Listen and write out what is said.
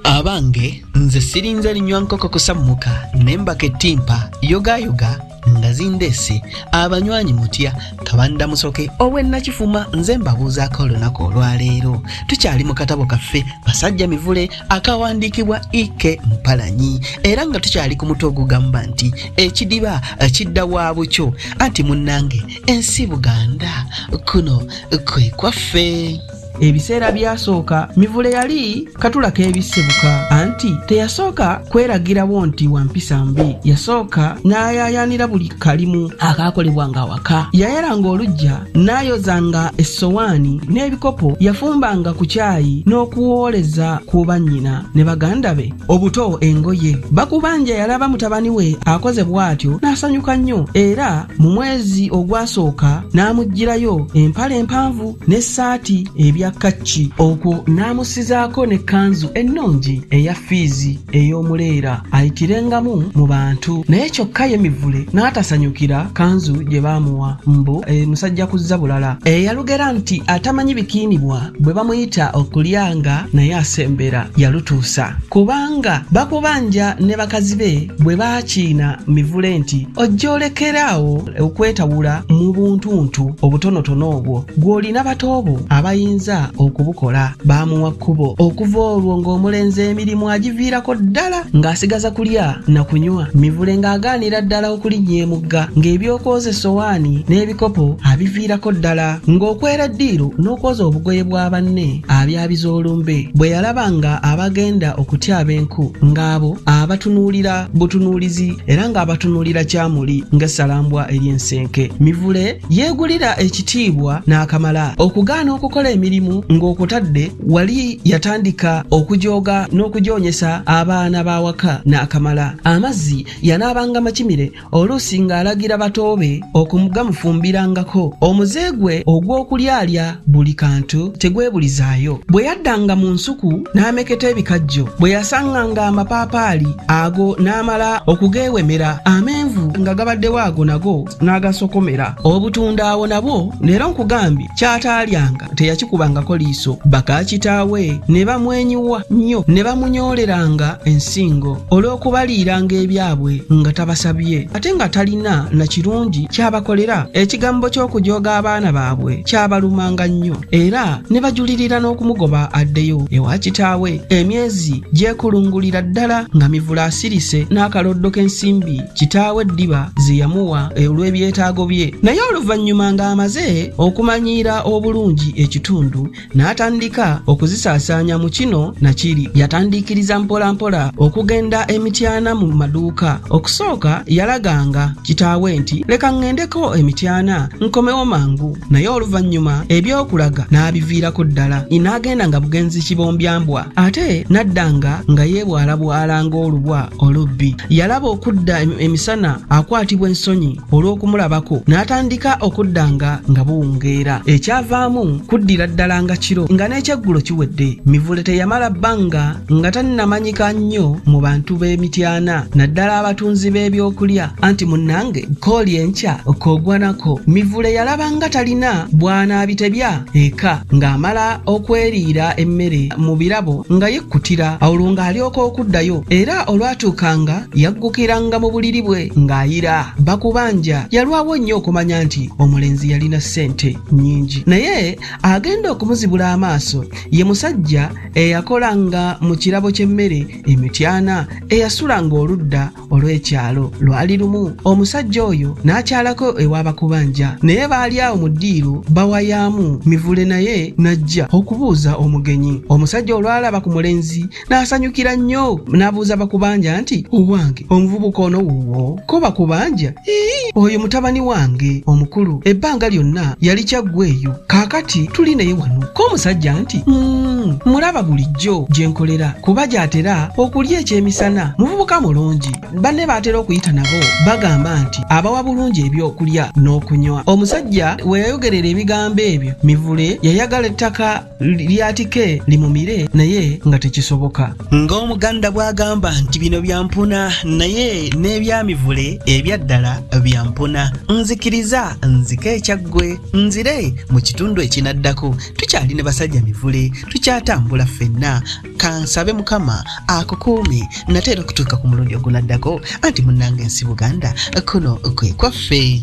abange nze sirinze linywa nkoko kusammuka nembaka ettimpa yogayoga nga zindeese abanywanyi mutya kabanda musoke ow'ennakifuma nze mbabuuzaako olunaku olwaleero tukyali mu katabo kaffe basajja mivule akawandiikibwa ike mpalanyi era nga tukyali ku mutwe ogugamba nti ekidiba kidda wa bukyo anti munnange ensi buganda kuno kwe kwaffe ebiseera byasooka mivule yali katula k'ebisebuka anti teyasooka kweragirawo nti wampisa mbi yasooka n'ayaayaanira buli kalimu akaakolebwa nga waka yayalanga olujja n'ayozanga essowaani n'ebikopo yafumbanga ku kyayi n'okuwooleza ku bannyina ne baganda be obuto engoye bakubanja yalaba mutabani we akoze bw'atyo n'asanyuka nnyo era mu mwezi ogwasooka n'amuggyirayo empale empanvu n'essaati ebya kacci okwo n'amusizaako n'ekkanzu ennungi eya fiizi ey'omuleera ayitirengamu mu bantu naye kyokka ye mivule n'atasanyukira kanzu gye baamuwa mbu e, musajja kuzza bulala eyalugera nti atamanyi bikiinibwa bwe bamuyita okulyanga naye asembera yalutuusa kubanga bakubanja ne bakazi be bwe baakiina mivule nti ojja olekera awo okwetawula mu buntuntu obutonotono obwo gw'olina bato bo abayinza okubukola baamuwa kkubo okuva olwo ng'omulenzi emirimu agiviirako ddala ng'asigaza kulya na kunywa mivule ng'agaanira ddala okulinnya emugga ng'ebyokwoza essowaani n'ebikopo abiviirako ddala ng'okwera ddiiru n'okwoza obugoye bwa banne abyabiza olumbe bwe yalaba nga abagenda okutyaba enku ng'abo abatunuulira butunuulizi era ng'abatunulira kyamuli ng'essalambwa ery'ensenke mivule yeegulira ekitiibwa n'akamala okugaana okukola emirimu ng'okutadde wali yatandika okujooga n'okujoonyesa abaana b'awaka n'akamala amazzi yanaabanga makimire oluusi ng'alagira batoobe okumugamufumbirangako omuze gwe ogw'okulyalya buli kantu tegwebulizaayo bwe yaddanga mu nsuku n'ameketa ebikajjo bwe yasanganga amapaapaali ago n'amala okugeewemera amenvu nga gabaddewo ago nago n'agasokomera obutunda awo nabwo leero nkugambye kyataalyanga teyakikubangako liiso bakakitaawe ne bamwenyiwa nnyo ne bamunyoleranga ensingo olw'okubaliiranga ebyabwe nga tabasabye ate nga talina na kirungi kyabakolera ekigambo ky'okujooga abaana baabwe kyabalumanga nnyo era ne bajulirira n'okumugoba addeyo ewa kitaawe emyezi gyekulungulira ddala nga mivula asirise n'akaloddo k'ensimbi kitaawe eddiba ze yamuwa olw'ebyetaago bye naye oluvannyuma ng'amaze okumanyiira obulungi ekitundu n'atandika okuzisaasaanya mu kino na kiri yatandiikiriza mpolampola okugenda emityana mu maduuka okusooka yalaganga kitaawe nti leka ŋŋendeko emityana nkomewo mangu naye oluvannyuma eby'okulaga n'abiviirako ddala inaagenda nga bugenzi kibombyambwa ate n'addanga nga yeebwalabwala ng'olubwa olubbi yalaba okudda emisana akwatibwa ensonyi olw'okumulabako n'atandika okuddanga nga buwungeera ekyavaamu kuddira ddala nga kiro nga n'ekyeggulo kiwedde mivule teyamala bbanga nga tannamanyika nnyo mu bantu b'emityana naddala abatunzi b'ebyokulya anti munnange kooli enkya okogwanako mivule yalaba nga talina bwanaabitebya eka ng'amala okweriira emmere mu birabo nga yekkutira olwo ng'alyoka okuddayo era olwatuukanga yaggukiranga mu buliri bwe ng'ayira bakubanja yalwawo nnyo okumanya nti omulenzi yalina ssente nnyingi naye agenda okumuzibula amaaso ye musajja eyakola nga mu kirabo ky'emmere emityana eyasula ng'oludda olw'ekyalo lwali lumu omusajja oyo n'akyalako ew'abakubanja naye baali awo mu ddiiro bawayaamu mivule naye n'ajja okubuuza omugenyi omusajja olwalaba ku mulenzi n'asanyukira nnyo n'abuuza bakubanja nti owange omuvubuka ono wuwo ko bakubanja ii oyo mutabani wange omukulu ebbanga lyonna yali kyaggweeyo kaakati tuli naye wano ko omusajja nti mm, mulaba bulijjo gye nkolera kuba gy'atera okulya ekyemisana muvubuka mulungi banne baatera okuyita nabo bagamba nti abawa bulungi ebyokulya n'okunywa omusajja we yayogerera ebigambo ebyo mivule yayagala ettaka lyatike limumire naye nga tekisoboka ng'omuganda bw'agamba nti bino byampuna naye n'ebyamivule ebyaddala byampuna nzikiriza nzike ekyaggwe nzire mu kitundu ekinaddako tukyali ne basajja mivule tukyatambula ffenna kansabe mukama akukuumi nate era okutuuka ku mulundi ogunaddako anti munnanga ensi buganda kuno kwe kwaffe